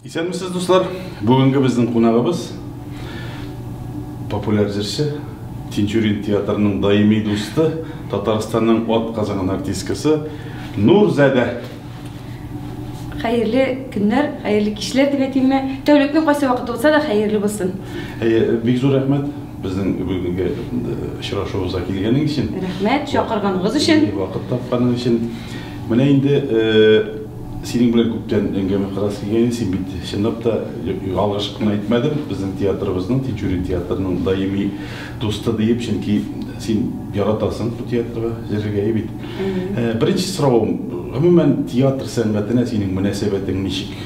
Исәнмесез, дуслар! Бүгенге безнең кунагыбыз популяр җырчы, Тинчурин театрының даими дусты, Татарстанның ат казанган артисткасы Нурзәдә. Хәерле көннәр, хәерле кичләр дип әйтимме? Тәүлекнең кайсы вакыты булса да хәерле булсын. Әйе, бик зур рәхмәт безнең бүгенге очрашуыбызга килгәнең өчен. Рәхмәт, чакырганыгыз өчен. Вакыт тапканың өчен. Менә инде Синең белән күптән әңгәмә кырасы килгән иде, син бит чынлап та, ялгыш кына әйтмәдем, безнең театрыбызның, Тинчурин театрының даими дусты диеп, чөнки син яратасың бу театрга җырлыйгә бит. Беренче соравым, гомумән, театр сәнгатенә синең мөнәсәбәтең ничек?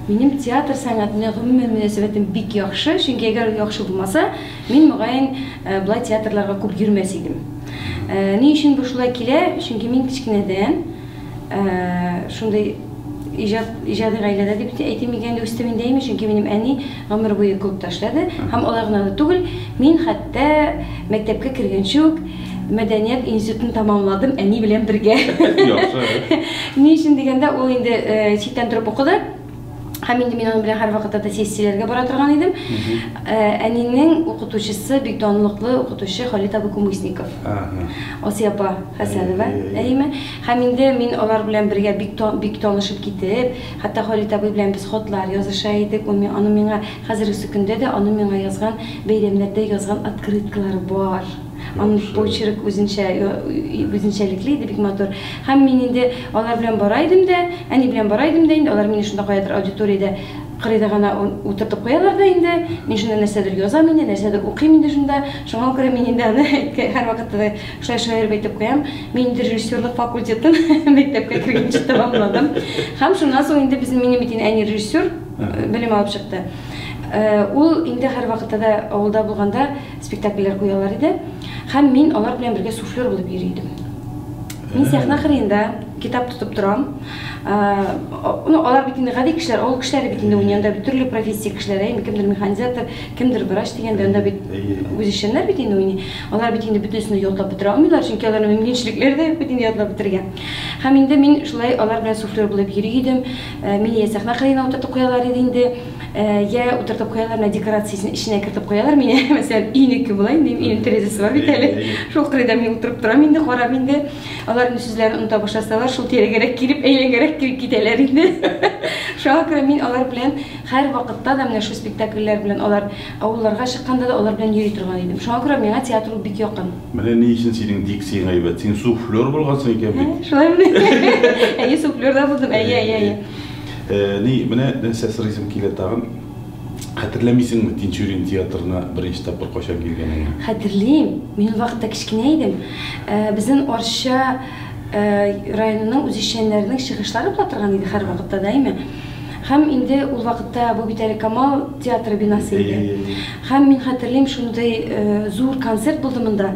Минем театр сәнгатенә гомумән мөнәсәбәтем бик яхшы, чөнки әгәр ул яхшы булмаса, мин, мөгаен, болай театрларга күп йөрмәс идем. Ни өчен бу шулай килә? Чөнки мин кечкенәдән, Шундый иҗат, иҗади гаиләдә дип әйтим микән, инде үстем инде әйме, чөнки минем әни гомер буе клубта эшләде. Һәм алай гына да түгел, мин хәтта мәктәпкә кергәнче үк мәдәният институтын тәмамладым әни белән бергә. Яхшы. Ни өчен дигәндә, ул инде читтән торып укыды. Һәм инде мин аның белән һәрвакытта да сессияләргә бара торган идем. Ә, Әнинең укытучысы бик данлыклы укытучы Халит абый Кумысников. Ага. Асия апа Хәсәнова, Әйе, әйе, әйе. әйеме? Һәм инде мин алар белән бергә бик та- бик танышып китеп, хәтта Халит абый белән без хатлар языша идек. Ул ми- Аның миңа хәзергесе көндә дә аның миңа язган, бәйрәмнәрдә язган открыткалары бар. Аның почерк үзенчә, үзенчәлекле иде, бик матур. Һәм мин инде алар белән бара идем дә, әни белән бара идем дә, инде алар мине шунда каядыр аудиториядә кырыйда гына утыртып куялар да инде. Мин шунда нәрсәдер язам инде, нәрсәдер укыйм инде шунда. Шуңа күрә мин инде аны һәр вакытта да шулай шаярып әйтеп куям. Мин инде режиссерлык факультетын мәктәпкә кергәнче тәмамладым. Һәм шуннан соң инде безнең минем бит әни режиссер белем алып чыкты. Ул инде һәрвакытта да авылда булганда Спектакльләр куялар иде һәм мин алар белән бергә суфлер булып йөри идем. Мин сәхнә кырыенда китап тотып торам. Ну, алар бит инде гади кешеләр, авыл кешеләре бит инде уйный, анда бит төрле профессия кешеләре, әйме, кемдер механизатор, кемдер врач дигәндә, анда бит үзешчәннәр бит инде уйный. Алар бит инде бөтенесен дә ятлап бетерә алмыйлар, чөнки аларның мөмкинчелекләре дә юк бит инде ятлап бетергә. Һәм инде мин шулай алар белән суфлер булып йөри идем. Мине йә сәхнә кырыена утыртып куялар иде инде, Йә утыртып куялар менә декорациясен эченә кертеп куялар мени, мәсәлән, өйнеке була инде, минем өйнең тәрәзәсе бар бит әле. Шул кырыйда мин утырып торам инде, карап инде. Алар инде сүзләрен оныта башласалар, шул тирәгәрәк килеп, әйләнгәрәк килеп китәләр инде. Шуңа күрә мин алар белән һәр вакытта да менә шул спектакльләр белән алар авылларга чыкканда да алар белән йөри торган идем. Шуңа күрә миңа театр бик якын. Менә ни өчен синең дикциең әйбәт. Син суфлер булгансың икән бит. Шулаймыни? Әйе, суфлер да булдым. Әйе, әйе, әйе. Әни, менә нәрсә сорыйсым килә тагын. Хәтерләмисеңме, Тинчурин театрына беренче тапкыр кайчан килгәнеңне? Хәтерлим. Мин ул вакытта кечкенә идем. Безнең Арча районының үзешчәннәренең чыгышлары була торган иде һәрвакытта даими. Һәм инде ул вакытта бу бит әле Камал театры бинасы иде. Әйе, әйе. Һәм мин хәтерлим, шундый зур концерт булды монда.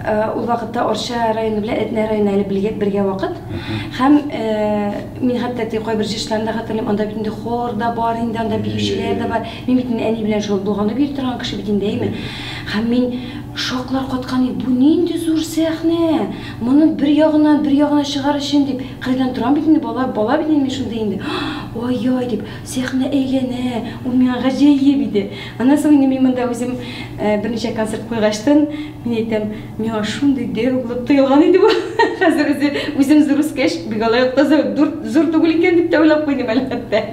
Ул вакытта Арча районы белән Әтнә районы әле бергә, бергә вакыт. Һәм э, мин хәтта теге кайбер җырчыларны да хәтерлим, анда бит инде хор да бар инде, анда биючеләр дә бар. Мин бит инде әни белән шул булганып йөри торган кеше бит инде, әйме? Һәм мин шоклар каткан идем, бу нинди зур сәхнә! Моны бер ягыннан, бер ягына чыгар өчен дип, кырыйдан торам бит инде, бала, бала бит инде мин шундый инде. Ай-яй дип, сәхнә әйләнә, ул миңа гаҗәеп иде. Аннан соң инде мин монда үзем берничә концерт куйгачтын, мин әйтәм, миңа шундый дәү булып тоелган иде бу. Хәзер үзе үзем зур үскәч, бик алай та зур түгел икән дип тә уйлап куйдым әле хәтта.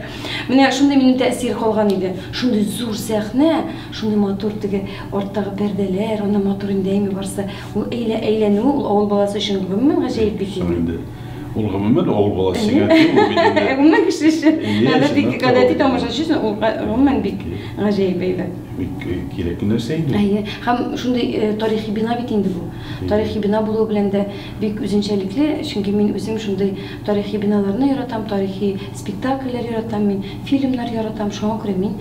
Менә шундый минем тәэсир калган иде. Шундый зур сәхнә, шундый матур теге арттагы пәрдәләр, аны матур инде әйме барсы. Ул әйләнү, ул авыл баласы өчен гомумән гаҗәеп бит инде. Ул гомумән авыл баласы сиңа кем ул бит инде. Гомумән кеше эше. Анда бик гадәти тамашачы, ул гомумән бик гаҗәеп әйбәт. Бик кирәк нәрсә инде. Әйе, һәм шундый тарихи бина бит инде бу. Тарихи бина булуы белән дә бик үзенчәлекле, чөнки мин үзем шундый тарихи биналарны яратам, тарихи спектакльләр яратам мин, фильмнар яратам, шуңа күрә мин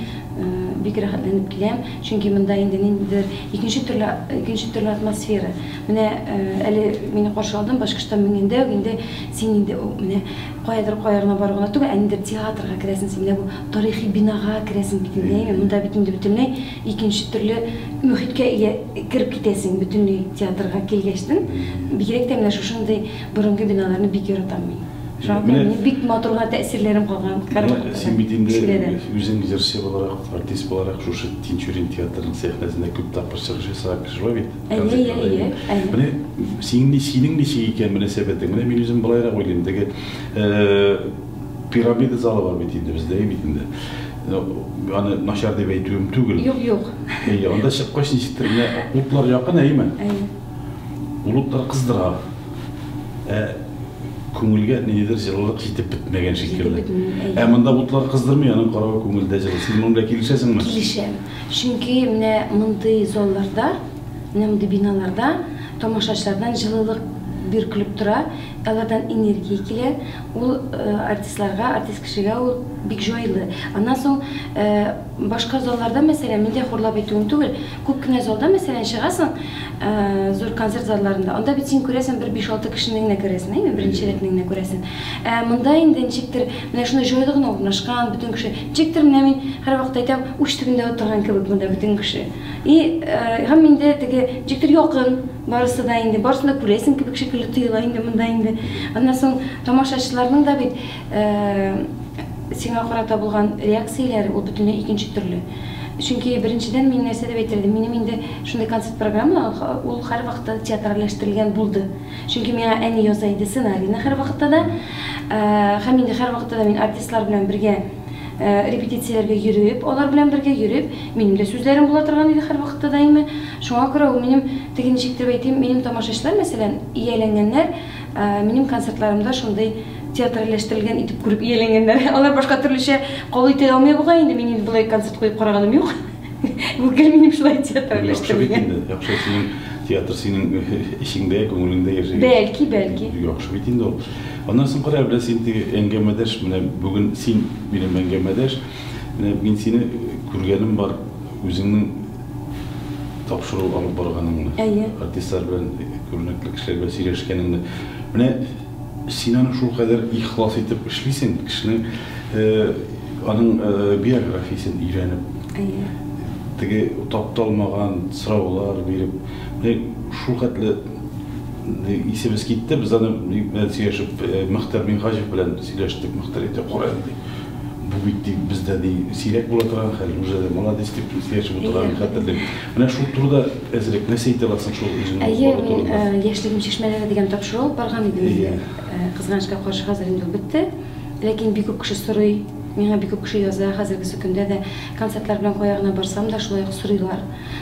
бик рәхәтләнеп киләм, чөнки монда инде ниндидер икенче төрле, икенче төрле атмосфера. Менә әле мине каршыладың, Башкортстан менгәндә үк инде син инде менә каядыр кая гына бару гына түгел, ә ниндидер театрга керәсең, син менә бу тарихи бинага керәсең бит инде, әйеме? Монда бит инде бөтенләй икенче төрле мөхиткә ия кереп китәсең бөтенләй театрга килгәчтен. Бигрәк тә менә шушындый борынгы биналарны бик яратам мин. Шуңа күрә минем бик матурга тәэсирләрем калган Карлыкта да, Тинчуридән. Син бит инде үзең җырчы буларак, артист буларак шушы Тинчурин театрының сәхнәсендә күп тапкыр чыгыш ясаган кеше бит. Әйе, әйе, әйе, әйе. Менә синең ни, синең ничек икән мөнәсәбәтең? Менә мин үзем былайрак уйлыйм, теге э, пирамида залы бар бит инде бездә бит инде. Э, аны начар дип әйтүем түгел. Юк, юк. Әйе, анда чыккач ничектер менә утлар якын, әйеме? Әйе. Ул утлар кыздыра. Ә күңелгә ниндидер җылылык җитеп бетмәгән шикелле. Ә монда утлар кыздырмый, аның каравы күңелдә җылы. Син моның белән килешәсеңме? Килешәм. Чөнки менә мондый залларда, менә мондый биналарда тамашачылардан җылылык биркелеп тора, алардан энергия килә, ул артистларга, артист кешегә ул бик җайлы. Аннан соң башка залларда, мәсәлән, мин дә хурлап әйтүем түгел, күп кенә залда, мәсәлән, чыгасың, зур концерт залларында, анда бит син күрәсең бер биш-алты кешене генә күрәсең, әйеме, беренче рәтне генә күрәсең. Ә монда инде ничектер менә шунда җайлы гына урнашкан, бөтен кеше, Ничектер менә мин һәрвакыт әйтәм, уч төбендә утырган кебек монда бөтен кеше. И, һәм инде теге ничектер якын барысы да инде, барысын да күрәсең кебек шикелле тоела инде монда инде. Аннан соң тамашачыларның да бит сиңа карата булган реакцияләре ул бөтенләй икенче төрле. Чөнки беренчедән мин нәрсә дип әйтер идем, минем инде шундый концерт программа ул һәрвакыт театральләштерелгән булды. Чөнки миңа әни яза иде сценарийны һәрвакытта да. Һәм инде һәрвакытта да мин артистлар белән бергә репетицияләргә йөреп, алар белән бергә йөреп, минем дә сүзләрем була торган иде һәрвакытта даими. Шуңа күрә ул минем, теге ничек иттереп әйтим, минем тамашачылар, мәсәлән, ияләнгәннәр, минем концертларымда шундый театральләштерелгән итеп күреп ияләнгәннәр. Алар башка төрлечә кабул итә алмый бугай инде, мин инде болай концерт куеп караганым юк. Бу гел минем шулай театр белән Яхшы бит инде, яхшы синең театр синең эчеңдә, күңелеңдә яши. Бәлки, бәлки. Яхшы бит инде ул. Аннан соң кара, белән син теге әңгәмәдәш, менә бүген син минем әңгәмәдәш. Менә мин сине күргәнем бар, үзеңнең тапшыру алып барганыңны. Әйе. Артистлар белән күренекле кешеләр белән сөйләшкәнеңне. Менә Син аны шулкадәр ихлас итеп эшлисең, кешенең аның биографиясен өйрәнеп. Әйе. Теге тапталмаган сораулар биреп, менә шул хәтле исебез китте, без аны белән сөйләшеп, Мөхтәр Минһаҗев белән сөйләштек, Мөхтәр әйтә, кара инде. Бу бит ди, бездә ди, сирәк була торган хәл, уже молодец дип сөйләшеп утырганны хәтерлим. Менә шул турыда әзрәк нәрсә әйтә аласың шул үзеңнең балалар турында? Әйе, мин э, яшьлегем чишмәләре дигән тапшыру алып барган идем инде. Э, Кызганычка каршы хәзер инде ул бетте. Ләкин бик күп кеше сорый, миңа бик күп кеше яза, хәзерге көндә дә концертлар белән кая гына барсам да шулай ук сорыйлар.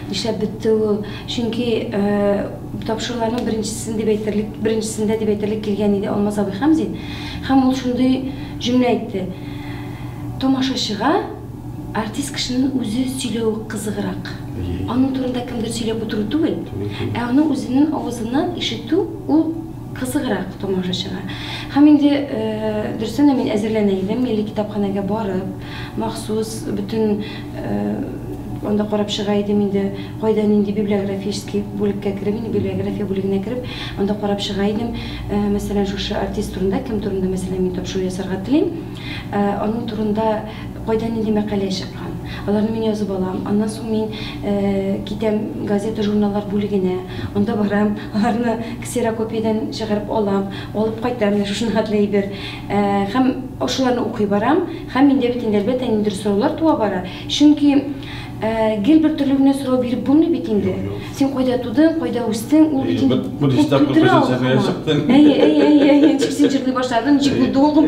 Нишләп бетте ул? Чөнки э, тапшыруларның беренчесен дип әйтерлек, беренчесендә дип әйтерлек килгән иде Алмаз абый Хәмзин. Һәм ул шундый җөмлә әйтте. Тамашачыга Артист кешенең үзе сөйләве кызыграк. Аның турында кемдер сөйләп утыру түгел, ә аның үзенең авызыннан ишетү ул кызыграк тамашачыга. Һәм инде, дөрестән дә, мин әзерләнә идем, милли китапханәгә барып, махсус бөтен анда карап чыга идем инде, кайда нинди библиографический бүлеккә кереп, инде библиография бүлегенә кереп, анда карап чыга идем, мәсәлән, шушы артист турында, кем турында, мәсәлән, мин тапшыру ясарга телим. Аның турында кайда нинди мәкалә чыккан. Аларны мин язып алам. Аннан соң мин китәм газета-журналлар бүлегенә. Анда барам, аларны ксерокопиядән чыгарып алам. Алып кайтам, менә шушына хәтле әйбер. Һәм шуларны укый барам. Һәм миндә бит инде, әлбәттә, ниндидер сораулар туа бара. Чөнки. Ә, гел бер төрле генә сорау биреп булмый бит инде. Син кайда тудың, кайда үстең, ул бит инде... Бу дистә купесен сәбәя чыктың. Әйе, әйе, әйе, әйе, ничек син җырлый башладың, ничек булды ул?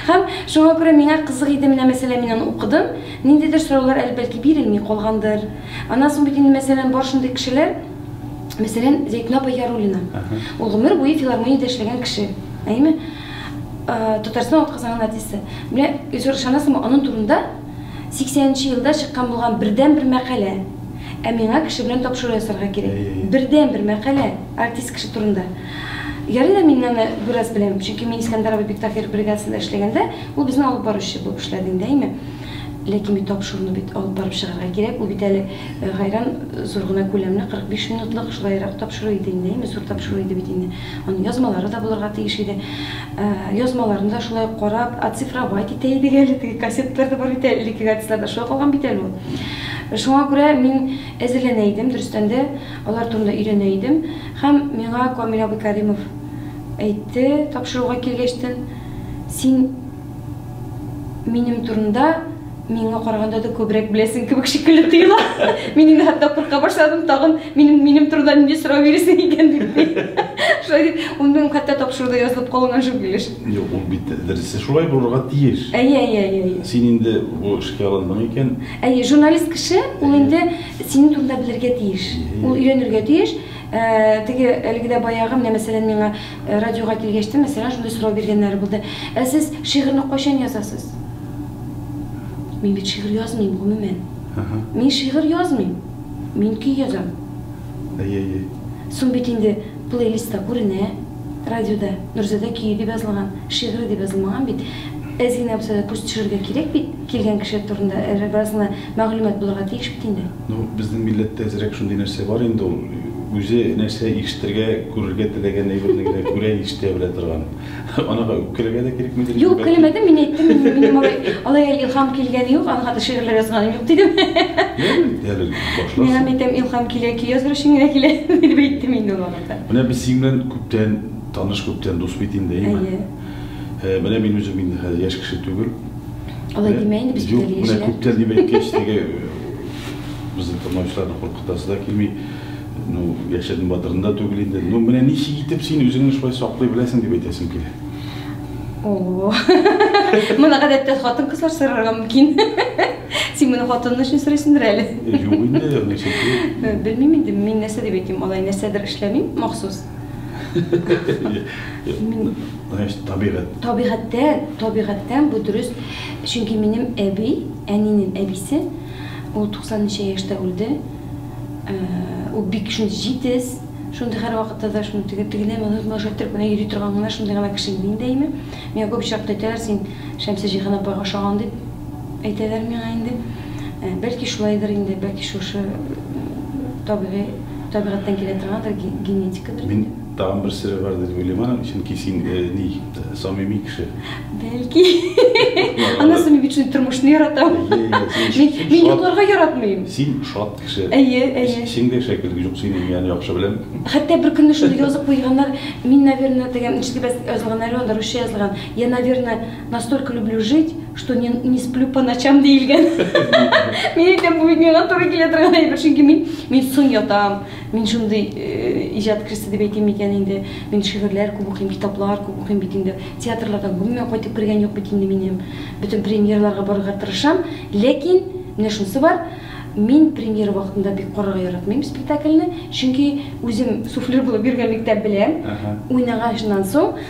Һәм шуңа күрә миңа кызык иде, менә мәсәлән, мин аны укыдым, ниндидер сораулар әле бәлки бирелми калгандыр. Аннан соң бит инде мәсәлән бар шундый кешеләр, мәсәлән, Зәйтүнә апа Яруллина. Ул гомер буе филармониядә эшләгән кеше, әйеме? Татарстан атказанган артисты. Менә, Илсур, ышанасыңмы, аның турында 80 нче елда чыккан булган бердәнбер мәкалә. Ә миңа кеше белән тапшыру ясарга кирәк. Бердәнбер мәкалә, артист кеше турында. Ярый да мин аны бераз беләм, чөнки мин Искәндәр абый Биктау фермер бригадасында эшләгәндә, ул безнең алып баручы булып эшләде инде, әйме. Ләкин бит тапшыруны бит алып барып чыгарга кирәк, ул бит әле гайран зур гына күләмле, 45 минутлык, шулайрак тапшыру иде инде, әйме, зур тапшыру иде бит инде. Аның язмалары да булырга тиеш иде. Э, язмаларны да шулай ук карап, оцифровать итә идек әле, теге кассеталар да бар бит әле, элеккеге артистларда шулай калган бит әле ул. Шуңа күрә мин әзерләнә идем, дөрестән дә алар турында өйрәнә идем. Һәм миңа Камил абый Кәримов әйтте, тапшыруга килгәчтен, син минем турында миңа караганда да күбрәк беләсең кебек шикелле тоела. Мин инде хәтта курка башладым, тагын минем минем турында нинди сорау бирәсең икән дип. Шулай дип, ул хәтта тапшыруда язылып калган шул килеш. Юк, ул бит дөресе шулай булырга тиеш. Әйе, әйе, әйе. Син инде бу эшкә алындың икән. Әйе, журналист кеше ул инде синең турында белергә тиеш. Ул өйрәнергә тиеш. Э, теге әлегедә баягы, менә мәсәлән, миңа Радиога килгәч тә, мәсәлән, шундый сорау биргәннәре булды. Ә сез шигырьне кайчан язасыз? Мин бит шигырь язмыйм, гомумән. Мин шигырь язмыйм. Мин көй язам. Әй-әй-әй. Соң бит инде плейлистта күренә, радиода Нурзадә көе дип язылган, шигыре дип язылмаган бит. Әз генә булса да күз төшерергә кирәк бит, килгән кеше турында бераз гына мәгълүмат булырга тиеш бит инде. Ну, безнең милләттә әзрәк шундый нәрсә бар инде ул, үзе нәрсә ишетергә, күрергә теләгән әйберне генә күрә, ишетә белә торган. Анага үпкәләргә дә кирекмидер инде. Юк, үпкәләмәдем, мин әйттем, минем алай, алай илһам килгәне юк, аңа хәтле шигырьләр язганым юк, дидем. Әле, әле башларсың. Миңа әйтәм, илһам килә, көй языр өчен генә килә, дип әйттем инде ул вакытта. Менә без синең белән күптән таныш, күптән дус бит инде, әйеме? Әйе. Э, менә мин үзем инде хәзер яшь кеше түгел. Алай э, димә инде без Юк, менә күптән дип әйткәч, теге безнең тыңлаучыларны куркытасы да килми. Ну, яшәдем батырында түгел инде. Ну, менә ничек итеп син үзеңне шулай саклый беләсең дип әйтәсем килә. О. Моны гадәттә хатын кызлар сорарга мөмкин. Син моны хатының өчен сорыйсыңдыр әле. Юк инде, нәрсә. Белмим инде, мин нәрсә дип әйтим, алай нәрсәдер эшләмим махсус. Мин значит табигать. Табигатьтән, табигатьтән бу дөрес. Чөнки минем әби, әнинең әбисе, ул 90 ничә яшьтә үлде. Э, ул бик шундый җитез, шундый һәр вакытта да шундый теге тегеләй моны моны шайтырып кына йөри торган гына шундый гына кеше иде инде әйме. Миңа күп очракта әйтәләр, син Шәмсә Җиһан апага ошаган дип. Әйтәләр миңа инде, бәлки шулайдыр инде, бәлки шушы табигый, табигатьтән килә торгандыр, генетикадыр инде. Мин тагын бер сере бар дип уйлыйм аның, чөнки син ни, самими кеше. Бәлки. Аннан соң мин бит шундый тормышны яратам. Мин йокларга яратмыйм. Син шат кеше. Әйе, әйе. Эчеңдә шәкерт юк синең, мин аны яхшы беләм. Хәтта бер көнне шундый язып куйганнар, мин, наверное, дигән, ишетеп язылган, русча язылган, я, наверное, Настолько люблю жить, что не, не сплю по ночам диелгән. Мин әйтәм, бу бит миңа туры килә торган әйбер, чөнки мин мин сон ятам. Мин шундый э, иҗат кристы дип әйтим икән инде. Мин шигырьләр күп укыйм, китаплар күп укыйм бит инде. Театрлардан гомумән кайтып кергән юк бит инде минем. Бөтен премьерларга барырга тырышам, ләкин менә шунысы бар. Мин премьера вакытында бик карарга яратмыйм спектакльне, чөнки үзем суфлер булып йөргәнлектән беләм. Ага. Уйнаганнан соң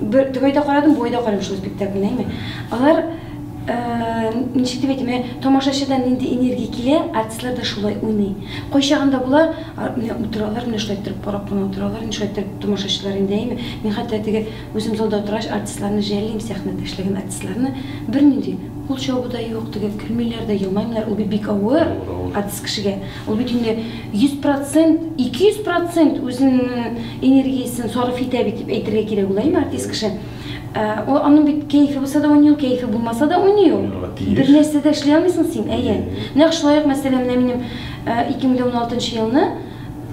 Бер төгәйдә карадым, буйда карадым шул спектакльне, әйме. Алар ничек дип әйтим, менә тамашачыда нинди энергия килә, артистлар да шулай уйный. Кайчагында була, менә утыралар, менә шулай торып карап кына утыралар, менә шулай торып тамашачылар инде, әйме. Мин хәтта теге үзем залда утыргач, артистларны жәллим, сәхнәдә эшләгән артистларны, бернинди кул чабу да юк, теге көлмиләр дә, елмаймыйлар, ул бит бик авыр артист кешегә. Ул бит инде 100%, 200% үзенең энергиясен сарыф итә бит дип әйтергә кирәк була, әйме, артист кеше. Ә, ул аның бит кәефе булса да уйный ул, кәефе булмаса да уйный ул. Уйнарга тиеш. Бер нәрсә дә эшли алмыйсың син, әйе. Нәкъ шулай ук, мәсәлән, менә минем ә, 2016 елны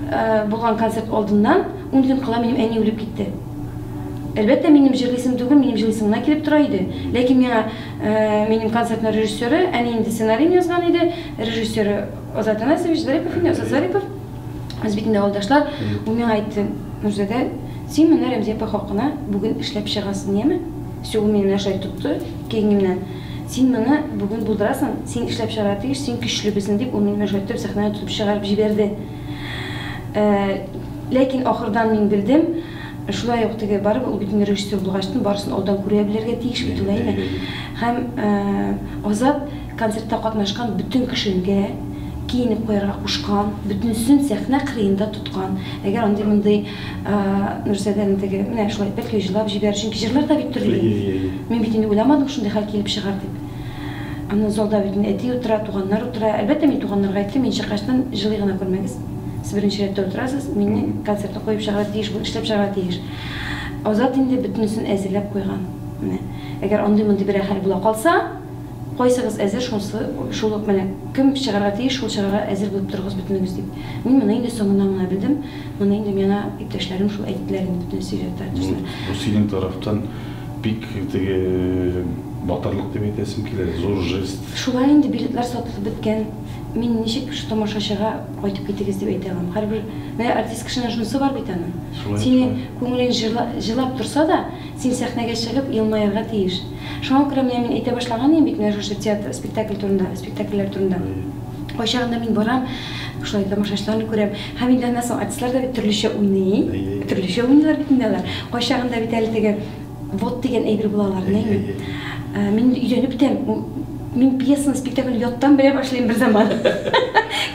ә, булган концерт алдыннан ун көн кала минем әни үлеп китте. Әлбәттә, минем җырлыйсым түгел, минем җырлыйсым гына килеп тора иде. Ләкин миңа Минем концертның режиссеры, әни инде сценарийны язган иде, режиссеры Азат Анасович Зарипов инде, Азат Зарипов. Без бит инде авылдашлар. Ул миңа әйтте, Нурзадә, син моны Рәмзия апа хакына бүген эшләп чыгасың, яме? Все, ул мине менә шулай тотты, киңемнән. Син моны бүген булдырасың, син эшләп чыгарга тиеш, син көчле безнең, дип, ул мине менә шулай итеп сәхнәгә тотып чыгарып җибәрде. Ләкин ахырдан мин белдем, Шулай ук теге, барыбер ул бит инде режиссер булгачтын, барысын алдан күрә белергә тиеш бит ул, әйме? Һәм Азат концертта катнашкан бөтен кешенгә киенеп куярга кушкан, бөтенесен сәхнә кырыенда тоткан. Әгәр андый-мондый Нурзадәне теге, менә шулай бәлки җылап җибәрер, чөнки җырлар да бит төрле инде. Мин бит инде уйламадым шундый хәл килеп чыгар дип. Аны залда бит мин әти утыра, туганнар утыра. Әлбәттә, мин туганнарга әйттем, мин чыккачтын җылый гына күрмәгез. Сез беренче рәттә утырасыз, мине концертны куеп чыгарга тиеш бу, эшләп чыгарга тиеш. Азат инде бөтенесен әзерләп куйган. Менә, әгәр андый-мондый берәр хәл була калса, кайсыгыз әзер, шунысы, шул ук менә, кем чыгарга тиеш, шул чыгарга әзер булып торыгыз бөтенегез, дип. Мин моны инде соңыннан гына белдем, моны инде миңа иптәшләрем шул әйттеләр инде, бөтенесе өйдә тартышты. Бу синең тарафтан. Бик теге батырлык дип әйтәсем килә, зур жест. Шулай инде, билетлар сатылып беткән. Мин ничек шул тамашачыга кайтып китегез дип әйтә алам? Һәрбер, менә артист кешенең шунысы бар бит аның. Синең күңелең җылап торса да, син сәхнәгә чыгып елмаярга тиеш. Шуңа күрә менә мин әйтә башлаган идем бит менә шушы театр, спектакль турында, спектакльләр турында. Кайчагында мин барам, шулай тамашачыларны күрәм. Һәм инде аннан соң артистлар да бит төрлечә уйный. Төрлечә уйныйлар бит инде алар. Кайчагында бит әле теге вот дигән әйбер була аларның. Мин инде өйрәнеп бетәм. Мин пьесаны, спектакльне яттан белә башлыйм бер заман.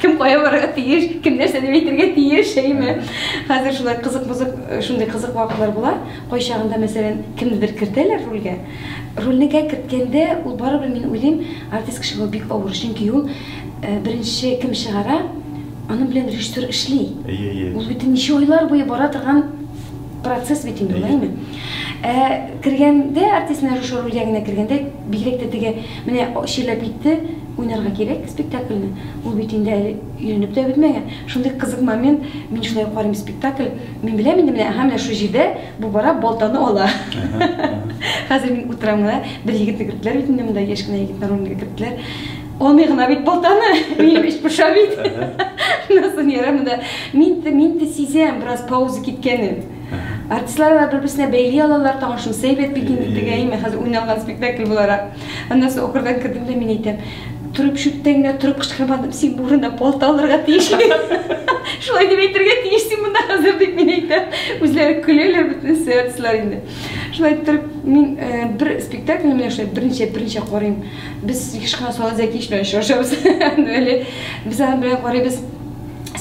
Кем кая барырга тиеш, кем нәрсә дип әйтергә тиеш, әйме. Хәзер шулай кызык-мызык, э, шундый кызык вакытлар була. Кайчагында, мәсәлән, кемнедер кертәләр рольгә. Рольне гә керткәндә, ул барыбер мин уйлыйм, артист кешегә ул бик авыр, чөнки ул э, беренче кем чыгара, Аның белән режиссер эшли. Әйе, әйе. Ул бит ничә айлар буе бара торган процесс бит инде, улайме? Ә кергәндә, артистның режиссер рольгә генә кергәндә, бигрәк тә теге, менә чирләп китте, уйнарга кирәк спектакльне. Ул бит инде әле өйрәнеп тә бетмәгән. Шундый кызык момент, мин шулай карыйм спектакль, мин беләм инде, менә, аһа, менә шул җирдә бу бара, балтаны ала. Хәзер мин утырам гына, бер егетне керттеләр бит инде монда, яшь кенә егетне рольгә керттеләр. Алмый гына бит балтаны, минем эч пыша бит. Насын ярам да. Мин дә, мин дә сизәм, бераз пауза киткәнен. Артистлар да бер-берсенә бәйли алалар, тагын шунысы әйбәт бит инде тегәйме, хәзер уйналган спектакль буларак. Аннан соң охырдан кердем дә мин әйтәм, торып чүттән генә торып кычкырмадым, син бу урында балта алырга тиеш. Шулай дип әйтергә тиеш син монда хәзер дип мин әйтәм. Үзләре көләләр бөтен сеанслар инде. Шулай торып мин э, бер спектакль менә шулай беренче беренче карыйм. Без еш кына Салат Зәкиевич белән очрашабыз. Әле без аның белән карыйбыз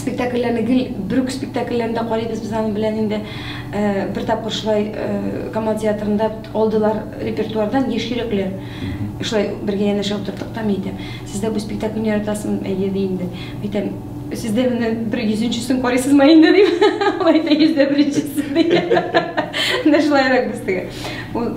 спектакльләрне гел бер үк спектакльләрендә карыйбыз без аның белән инде э, бер тапкыр шулай э, Камал театрында алдылар репертуардан Еш йөрәкләр. Шулай бергә янәшә утырдык та мин әйтәм, сез дә бу спектакльне яратасың әйе ди инде. Әйтәм, Сез дә менә бер йөзенчесен карыйсызмы инде дип, алай да йөз дә беренчесе дип. Менә шулайрак без теге. Ул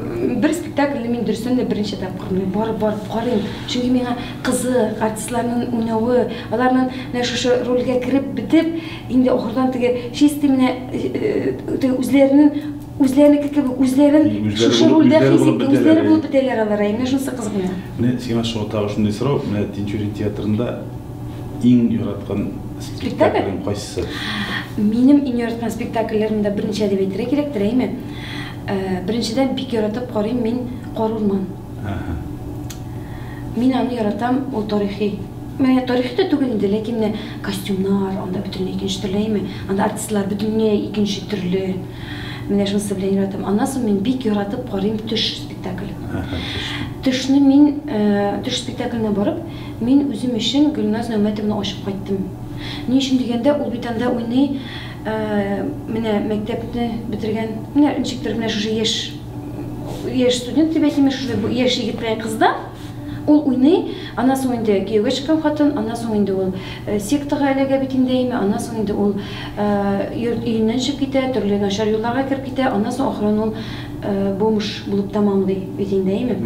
бер спектакльне мин дөрестән дә беренче тапкыр мин барып барып карыйм. Чөнки миңа кызык, артистларның уйнавы, аларның менә шушы рольгә кереп бетеп, инде ахырдан теге чисти менә теге үзләренең үзләренеке кебек үзләрен шушы рольдә хис итеп үзләре булып бетәләр алар. Менә шунысы кызык миңа. Менә сиңа шуңа тагы шундый сорау, менә Тинчурин театрында иң яраткан спектаклең кайсы? Минем иң яраткан спектакльләрем дә беренче әдәби әйтергә кирәктер, әйме? Э, беренчедән бик яратып карыйм мин Кар урман. Мин аны яратам, ул тарихи. Менә тарихи да түгел инде, ләкин менә костюмнар, анда бөтенләй икенче төрле, әйме? Анда артистлар бөтенләй икенче төрле. Менә шунысы белән яратам. Аннан соң мин бик яратып карыйм төш спектаклен. Төшне мин, э, төш спектакленә барып, Мин үзем өчен Гөлназ Нәүмәтовна ачып кайттым. Ни өчен дигәндә, ул бит анда уйный, ә менә мәктәпне бетергән, менә ничектер менә шушы яшь, яшь студент дип әйтимме, шушы яшь егеткә кызда ул уйный, аннан соң инде кияүгә чыккан хатын, аннан соң инде ул сектага эләгә бит инде, әйме, аннан соң инде ул йорт өеннән чыгып китә, төрле начар юлларга кереп китә, аннан соң ахырын ул бомж булып тәмамлый бит инде, әйме?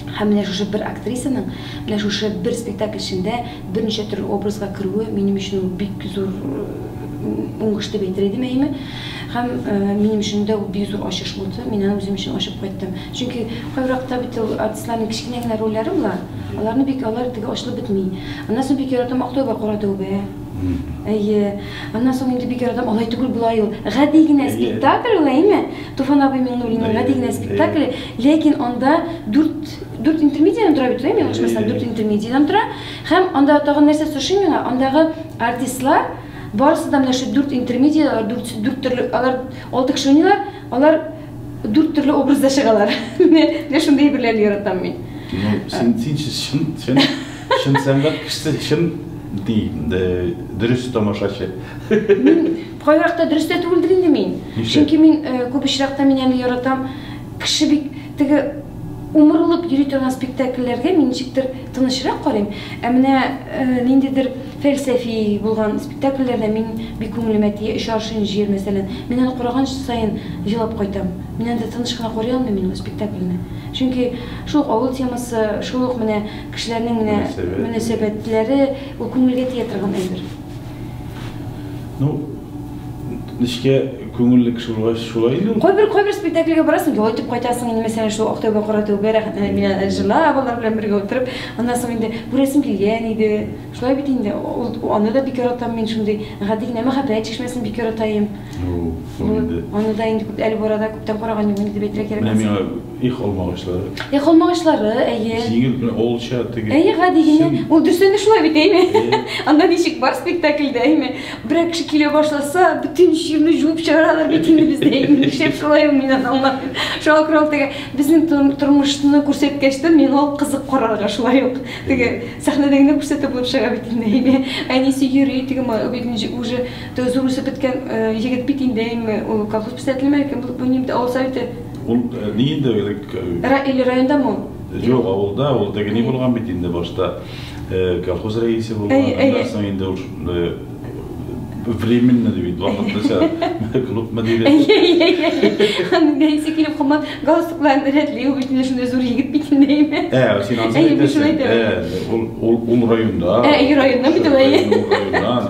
Һәм менә шушы бер актрисаның менә шушы бер спектакль эчендә берничә төрле образга керүе минем өчен ул бик зур уңыш дип әйтер идем, әйеме? Һәм минем өчен дә ул бик зур ачыш булды, мин аны үзем өчен ачып кайттым. Чөнки кайберакта бит ул артистларның кечкенә генә рольләре була, аларны бик алар теге ачылып бетми. Аннан соң бик яратам Актәүбә кара тәүбә. Әйе. Аннан соң инде бик яратам Алай түгел, болай ул. Гади генә спектакль ул, әйеме? Туфан абый Миңнуллинның Гади генә спектакле, ләкин анда дүрт, дүрт интермедиядән тора бит, мин ялгышмасам, дүрт интермедиядән тора. Һәм анда тагын нәрсәсе ошый миңа, андагы артистлар барысы да менә шул дүрт интермедиядә, дүрт, дүрт төрле, алар алты кеше уйныйлар, алар дүрт төрле образда чыгалар. Менә шундый әйберләрне яратам мин. Ну, син, син чын, чын, чын сәнгать кешесе, чын дөрес тамашачы. Кайбер вакытта дөрес тә түгелдер инде мин. Ничек? Чөнки мин э, күп очракта мин аны яратам. Кеше бик теге умырылып йөри торган спектакльләргә мин ничектер тынычрак карыйм. Ә менә э, ниндидер фәлсәфи булган спектакльләрдә мин бик күңелемә тия. Өч аршын җир, мәсәлән. Мин аны караган саен елап кайтам. Мин анда тыныч кына карый алмыйм мин ул спектакльне. Чөнки шул ук авыл темасы, шул ук менә кешеләрнең менә Мөнәсәбәт. мөнәсәбәтләре, ул күңелгә тия торган әйбер. Ну, нечкә күңелле кеше булгач шулай инде ул. Кайбер кайбер спектакльгә барасың, ял итеп кайтасың инде, мәсәлән, шул Актәүбә кара тәүбә рәхәтләнеп мина җырлап, алар белән бергә утырып, аннан соң инде күрәсем килгән иде. Шулай бит инде, ул аны да бик яратам мин шундый, гади генә мәхәббәт чишмәсен бик яратаем. Ну, ул инде. Аны да инде күп әле барада күптән караган юк, инде дип әйтергә кирәк. Менә миңа Их алмагачлары. Их алмагачлары, әйе. Җиңел белән олча теге. Әйе, гади генә. Ул дүрсәне шулай бит, әйме? Анда ничек бар спектакльдә, әйме? Берәр кеше килә башласа, бөтен җирне җуып чыгаралар бит инде бездә, әйме? Нишләп шулай ул мин аңламадым. Шуңа күрә ул теге безнең тормышны күрсәткәч тә мин ул кызык карарга шулай ук. Теге сәхнәдә генә күрсәтеп булып чыга бит инде, әйме? Әнисе йөри, теге бит уже зур үсеп беткән егет бит инде, әйме? Ул колхоз писателеме, кем булып уйный бит, авыл советы Ул нинди элек? Ра или райондамы ул? Юк, авылда, ул теге ни булган бит инде башта. э, Колхоз рәисе булган, Әйе, әйе. аннан соң инде ул э, временно дип бит вакытлыча клуб мөдире. Аның дәйсе килеп кума галстукларын рәтли, ул битенә шундай зур егет бит инде әйме? Ә, син ансыз Әйе, мин шулай әйтәсең. әйтәм. Ә, ул ул районда. Ә, и районнан бит ул, әйе. Районнан.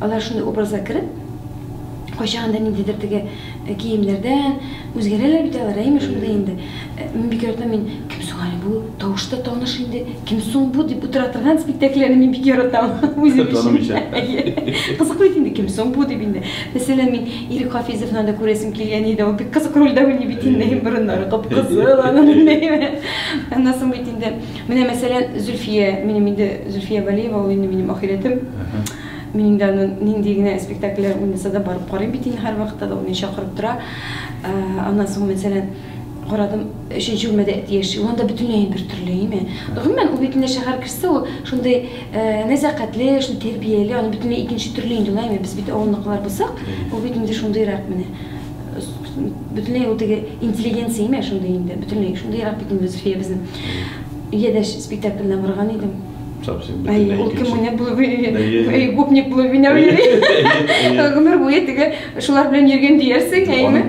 Алар шундый образга кереп, кайчагында да ниндидер теге э, киемнәрдән үзгәрәләр бит алар, әйме шундый инде. Э, мин бик яратам мин кем соң әле бу? Тавышы да таныш инде. Кем соң бу дип утыра торган спектакльләрне мин бик яратам үзем Таным өчен. өчен. Кызык бит инде кем соң бу дип инде. Мәсәлән, мин Ирек Хафизовны да күрәсем килгән иде. Ул бик кызык рольдә уйный бит инде. Борыннары кып-кызыл аның. Аннан соң бит инде Менә, мәсәлән, Зөлфия, минем инде Зөлфия Вәлиева, ул инде минем ахирәтем. Мин инде аны нинди генә спектакльләр уйнаса да барып карыйм бит инде һәрвакытта да, ул мине чакырып тора. Аннан соң, мәсәлән, карадым, өченче бүлмәдә әти яши, ул анда бөтенләй инде бертөрле, име. Гомумән, ул бит инде шәһәр кешесе, ул шундый нәзакәтле, шундый тәрбияле, аны бөтенләй икенче төрле инде ул, әйме, без бит авылныкылар булсак, ул бит инде шундыйрак менә. бөтенләй ул теге интеллигенция име шундый инде бөтенләй шундыйрак бит инде зөлфия безнең өйдә спектакльне барган идем ул кем уйнап булып гопник булып уйнап гомер буе теге шулар белән йөргән диярсең әйеме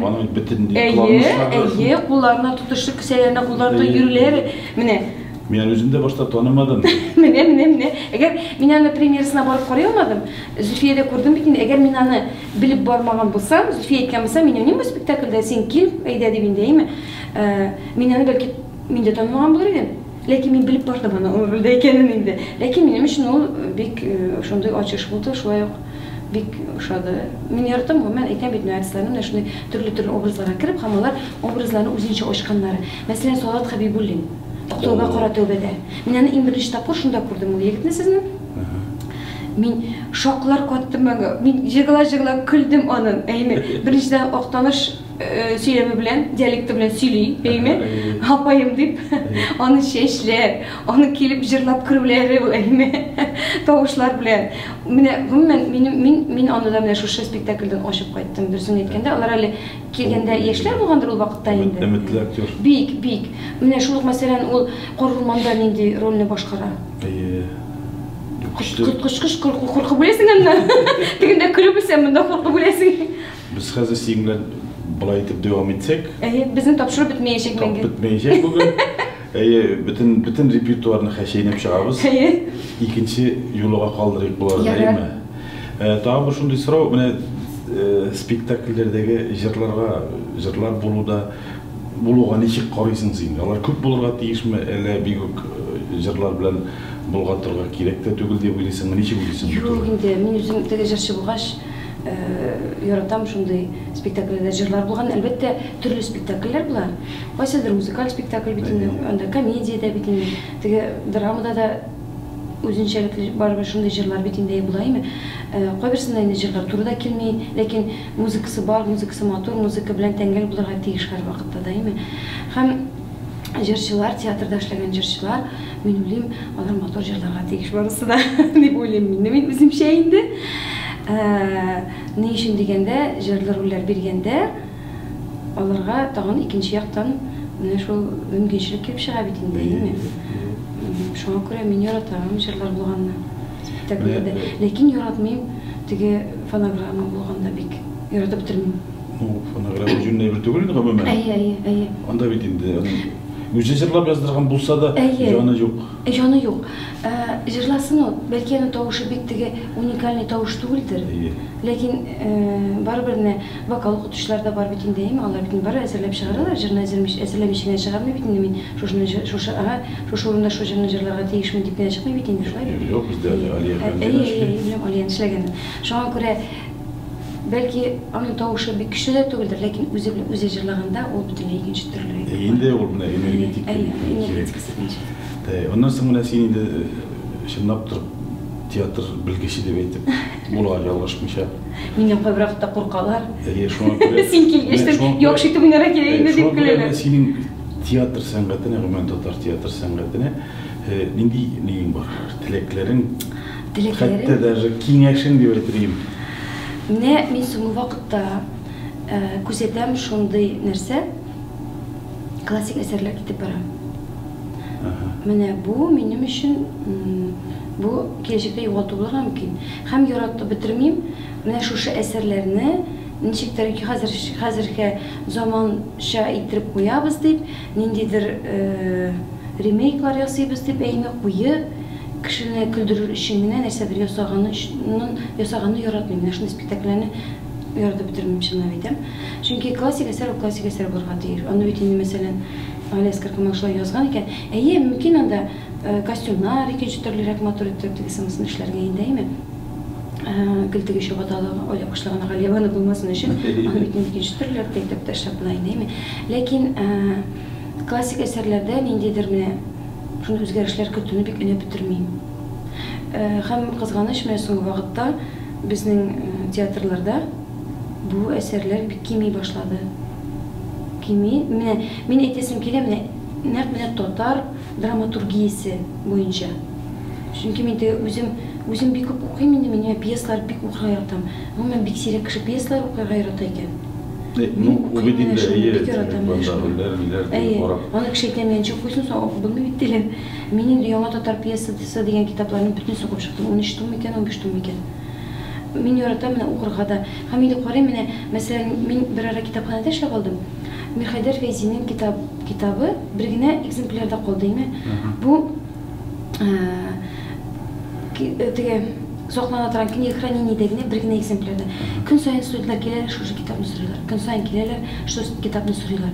әйе әйе кулларына тотышы кесәләренә кулларында йөрүләре менә Мин аны үземдә башта танымадым. Менә, менә, менә. Әгәр мин аны премьерасына барып карый алмадым, Зөфиядә күрдем бит инде, әгәр мин аны Белеп бармаган булсам, Зөлфия әйткән булса, мин уйныйм бу спектакльдә, син кил, әйдә дип инде, әйме? Ә, мин аны, бәлки, мин дә танымаган булыр идем. Ләкин мин белеп бардым аның ул рольдә икәнен инде. Ләкин минем өчен ул бик шундый ачыш булды, шулай ук бик ошады. Мин яратам, гомумән, әйтәм бит, менә артистларны менә шундый төрле-төрле образларга кереп һәм алар образларны үзенчә ачканнары. Мәсәлән, Салават Хәбибуллин, Актауга кара тәүбәдә. Мин аны иң беренче тапкыр шунда күрдем ул егетне сезнең. Мин шаклар каттым аңа. Мин җыгыла-җыгыла көлдем аның. Әйме, беренчедән актаныш э, сөйләме белән, диалекты белән сөйли, әйме, апаем дип, аны чәчләр, аны килеп җырлап керүләре, әйме, тавышлар белән. Менә гомумән минем мин мин аны да менә шушы спектакльдән ачып кайттым. Дөресен әйткәндә, алар әле килгәндә яшьләр булгандыр ул вакытта инде. Өметле актер. Бик, бик. Менә шул мәсәлән ул Корылманда нинди рольне башкара? Әйе. Көчле. Коткычкыч куркып үләсең аннан. Тегендә көлеп үлсәң, монда куркып үләсең. Без хәзер синең белән былай итеп дәвам итсәк. Әйе, безнең тапшыру бетмәячәк инде. Бетмәячәк бүген. Әйе, бөтен бөтен репертуарны хәшәйнәп чыгабыз. Әйе. Икенче юлыга калдырыйк боларны, әйеме? Э, тагын бер шундый сорау, менә э, спектакльләрдәге җырларга, җырлар булуда Булуга ничек карыйсың син? Алар күп булырга тиешме, әллә бик үк җырлар белән болгатырга кирәк тә түгел дип уйлыйсыңмы? Ничек уйлыйсың бу турыда? Юк инде, мин үзем теге җырчы булгач, яратам шундый спектакльләрдә җырлар булган. Әлбәттә, төрле спектакльләр була. Кайсыдыр музыкаль спектакль бит инде, анда комедия дә бит инде, теге драмада да үзенчәлекле барыбер шундый җырлар бит инде була, әйеме? Кайберсендә инде җырлар туры да килми, ләкин. Музыкасы бар, музыкасы матур, музыка белән тәңгәл булырга тиеш һәрвакытта даими. Һәм җырчылар, театрда эшләгән җырчылар, мин уйлыйм, алар матур җырларга тиеш барысы да, дип уйлыйм мин. Мин үземчә инде. Ә, ни өчен дигәндә, җырлы рольләр биргәндә, аларга тагын икенче яктан менә шул мөмкинчелек килеп чыга бит инде, әйеме? Шуңа күрә мин яратам җырлар булганны. Тәкъдимдә. Ләкин яратмыйм теге фонограмма булганда бик. Яратып бетермим. Ну, фонограмма җүнле әйбер түгел инде гомумән. Әйе, әйе, әйе. Анда бит инде аның үзе җырлап яздырган булса да, җаны юк. Әйе, җаны юк. Җырласын ул, бәлки аның тавышы бик теге уникальный тавыш түгелдер. Әйе. Ләкин барыбер менә Вокал укытучылар да бар бит инде, әйеме? Алар бит инде барыбер әзерләп чыгаралар, җырны әзермичә, әзерләмичә генә чыгармый бит инде, мин шушны җы, шушы, ага, шушы урында шул җырны җырларга тиешмен дип кенә чыкмый бит инде, шулай бит? Юк, бездә әле Алия Әйе, әфәнде генә әйе, эшли. әйе, беләм, Алиянең эшләгәнен. Шуңа күрә, бәлки, аның тавышы бик көчле дә түгелдер, ләкин үзе белән үзе җырлаганда, ул бөтенләй икенче төрле әйбер Әйе, бар. инде ул менә энергетик Әйе, кебек кирәк. энергетикасы икенче. Әйе, аннан соң менә син инде, чынлап торып, театр белгече дип әйтеп. Була, ялгышмыйча. Миннән кайбырак та куркалар. Әйе, шуңа күрә. Син килгәч тә яхшы итеп уйнарга кирәк инде дип көләләр. Синең театр сәнгатенә, гомумән татар театр сәнгатенә э, нинди нигең бар? Теләкләрең? Теләкләрең? Хәтта даже киңәшең дип әйтер Менә мин соңгы вакытта э, күзәтәм шундый нәрсә, классик әсәрләр китеп бара. Менә бу минем өчен бу киләчәктә югалту булырга мөмкин. Һәм яратып бетермим. Менә шушы әсәрләрне ничектер хәзер хәзергә заманча иттереп куябыз дип, ниндидер э, ремейклар ясыйбыз дип әйме куеп, кешене көлдерер өчен генә нәрсәдер ясаганы ясаганы яратмыйм. Менә шундый спектакльләрне ярды бетермим чынлап әйтәм. Чөнки классик әсәр ул классик әсәр булырга тиеш. Аны бит инде мәсәлән Галиәс Каркамак шулай язган икән. Әйе, мөмкин анда э, костюмнар икенче төрлерәк матур иттереп теге сымысын эшләргә инде, әйме? Э, гел теге чабаталы оя башлаган Галиәваны булмасын өчен, аны бит инде икенче төрлерәк тә итеп тә эшләп була инде, әйме? Ләкин э, классик әсәрләрдә ниндидер менә шундый үзгәрешләр көтүне бик өнәп бетермим. Э, һәм кызганыч менә соңгы вакытта Безнең театрларда бу әсәрләр бик кими башлады. Кими. Менә мин әйтәсем килә, менә нәкъ менә татар драматургиясе буенча. Чөнки мин теге үзем, үзем бик күп укыйм инде, мин пьесалар бик укырга яратам. Гомумән, бик сирәк кеше пьесалар укырга ярата икән. Ну, бу бит инде, әйе, бандагылар, ниләр, дип карап. Әйе, аны кеше әйтә, мин ничек укыйсың соң, укып булмый бит, диләр. Мин инде Яңа татар пьесасы дигән китапларны бөтенесе укып чыктым. Унөч том микән, унбиш том микән. Мин яратам менә укырга да. Һәм инде карыйм менә, мәсәлән, мин берара китапханәдә эшләп алдым. Мирхәйдәр Фәйзинең китап китабы бер генә экземплярда калды име. Бу теге саклана торган книга хранениедә генә бер генә экземплярда. Көн саен студентлар киләләр, шушы китапны сорыйлар. Көн саен киләләр, шушы китапны сорыйлар.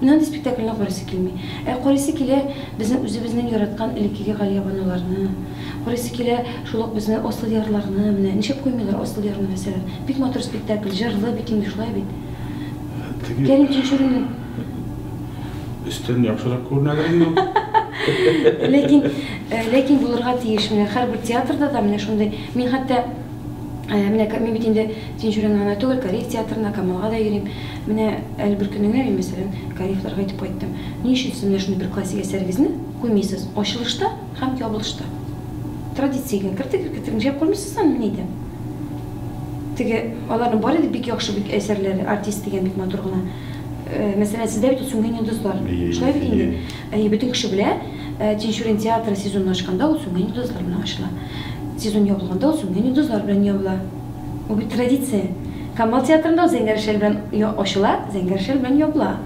Мин андый спектакльне карыйсы килми. Ә карыйсы килә безнең үзебезнең яраткан элеккеге Галиябаноларны, карыйсы килә шул ук безнең Асыл ярларны, менә нишләп куймыйлар Асыл ярны, мәсәлән. Бик матур спектакль, җырлы бит инде, шулай бит. Теге. Кәрим Тинчуринның. Өстән яхшырак күренәдер инде ул. Ләкин, ләкин булырга тиеш. Менә һәрбер театрда да менә шундый. Мин хәтта. Менә мин бит инде Тинчуринга гына түгел, Кариев театрына, Камалга да йөрим. Менә әле бер көнне генә мин, мәсәлән, Кариевларга әйтеп кайттым, Ни өчен сез менә шундый бер классик әсәрегезне куймыйсыз ачылышта һәм ябылышта? Традициягә кертегез, кертегез, нишләп куймыйсыз аны, мин әйтәм. Теге, аларның бары да бик яхшы бит әсәрләре, Артист дигән бик матур гына. Мәсәлән, сездә бит ул Сүнгән йолдызлар. Шулай бит инде. Әйе, бөтен кеше белә. Тинчурин театры сезонны ачканда ул Сүнгән йолдызлар белән ачыла. Сезон ябылганда ул Сүнгән йолдызлар белән ябыла. Ул бит традиция. Камал театрында ул Зәңгәр шәл белән ачыла, Зәңгәр шәл белән ябыла.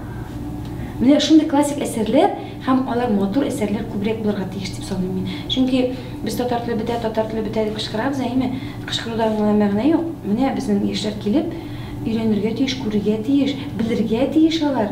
Менә шундый классик әсәрләр һәм алар матур әсәрләр күбрәк булырга тиеш дип саныйм мин. Чөнки без татар теле бетә, татар теле бетә дип кычкырабыз, әйеме? Кычкыруда гына мәгънә юк. Менә безнең яшьләр килеп, өйрәнергә тиеш, күрергә тиеш, белергә тиеш алар.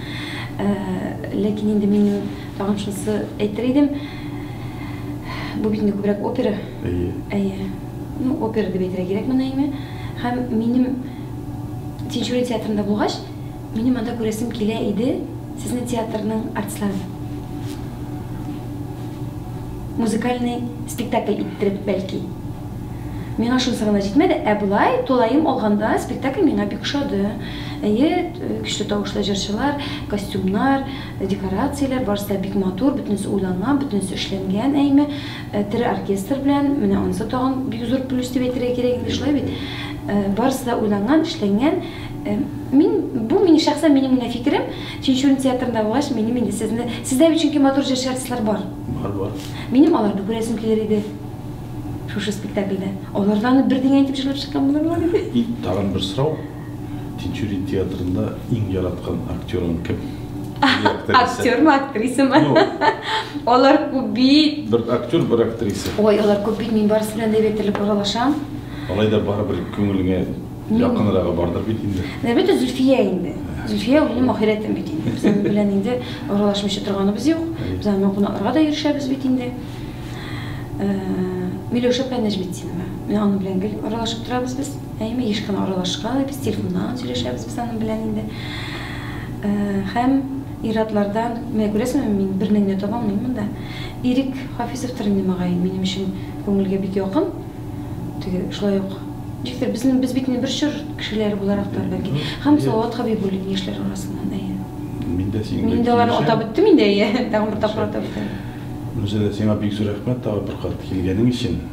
Ә, ләкин инде мин тагын шунысы әйтер идем. Бу бит инде күбрәк опера. Әйе. Әйе. Ну, опера дип әйтергә кирәкме, Наиме? Һәм минем Тинчурин театрында булгач, минем анда күрәсем килә иде сезнең театрның артистларын. Музыкальный спектакль иттереп, бәлки. Миңа шунысы гына җитмәде, ә болай, тулаем алганда, спектакль миңа бик ошады. Әйе, көчле тавышлы җырчылар, костюмнар, декорацияләр, барысы да бик матур, бөтенесе уйланган, бөтенесе эшләнгән, әйме. Тере оркестр белән, менә анысы тагын бик зур плюс дип әйтергә кирәк инде, шулай бит? Барысы да уйланган, эшләнгән. Мин, бу минем шәхсән минем генә фикерем, Тинчурин театрында булгач, минем инде сезне, сездә бит чөнки матур җырчы артистлар бар. Бар, бар. Минем аларны күрәсем килер иде шушы спектакльдә. Алар да аны бер дигән итеп җырлап чыккан булырлар иде. И, тагын бер сорау. Тинчурин театрында иң яраткан актерың кем? Актер ма, актриса ма? Алар күп бит. Бер актер, бер актриса. Ой, алар күп бит, мин барысы белән дә бетелеп аралашам. Алай да барыбер күңелеңә якынрагы бардыр бит инде. Әлбәттә, Зөлфия инде. Зөлфия ул минем ахирәтем бит инде. Без аның белән инде аралашмыйча торганыбыз юк. Без аның кунакларга да йөрешәбез бит инде. Э, Миләүшә Пәнәҗметдинова. Мин аның белән гел аралашып торабыз без. Әйме, еш кына аралашкан, без телефоннан гына сөйләшәбез без аның белән инде. Һәм ир-атлардан, менә күрәсеңме, мин берне генә таба алмыйм монда. Ирек Хафизовтыр инде, мөгаен, минем өчен күңелгә бик якын. Теге, шулай ук, ничектер, безнең, без бит инде бер чор кешеләре буларактыр, бәлки. Һәм Салават Хәбибуллин, яшьләр арасыннан, әйе. Мин дә синең белән килешәм. Мин инде аларны атап үттем инде, әйе, тагын бер тапкыр атап үтәм. Гүзәлия, сиңа бик зур рәхмәт, тагын бер кат килгәнең өчен.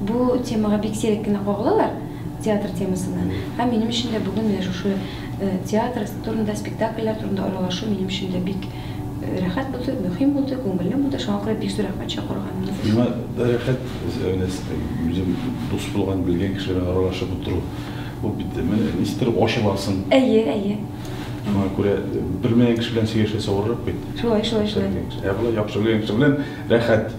Бу темага бик сирәк кенә кагылалар, театр темасына. Һәм минем өчен дә бүген менә шушы театр турында, спектакльләр турында аралашу минем өчен дә бик рәхәт булды, мөһим булды, күңелле булды. Шуңа күрә бик зур рәхмәт чакыруга. Миңа да рәхәт, үзем дус булган, белгән кеше белән аралашып утыру. Бу бит ничектер ачыласың. Әйе, әйе. Шуңа күрә белмәгән кеше белән сөйләшәсе авыррак бит. Шулай, шулай, шулай. Ә болай яхшы белгән кеше белән рәхәт.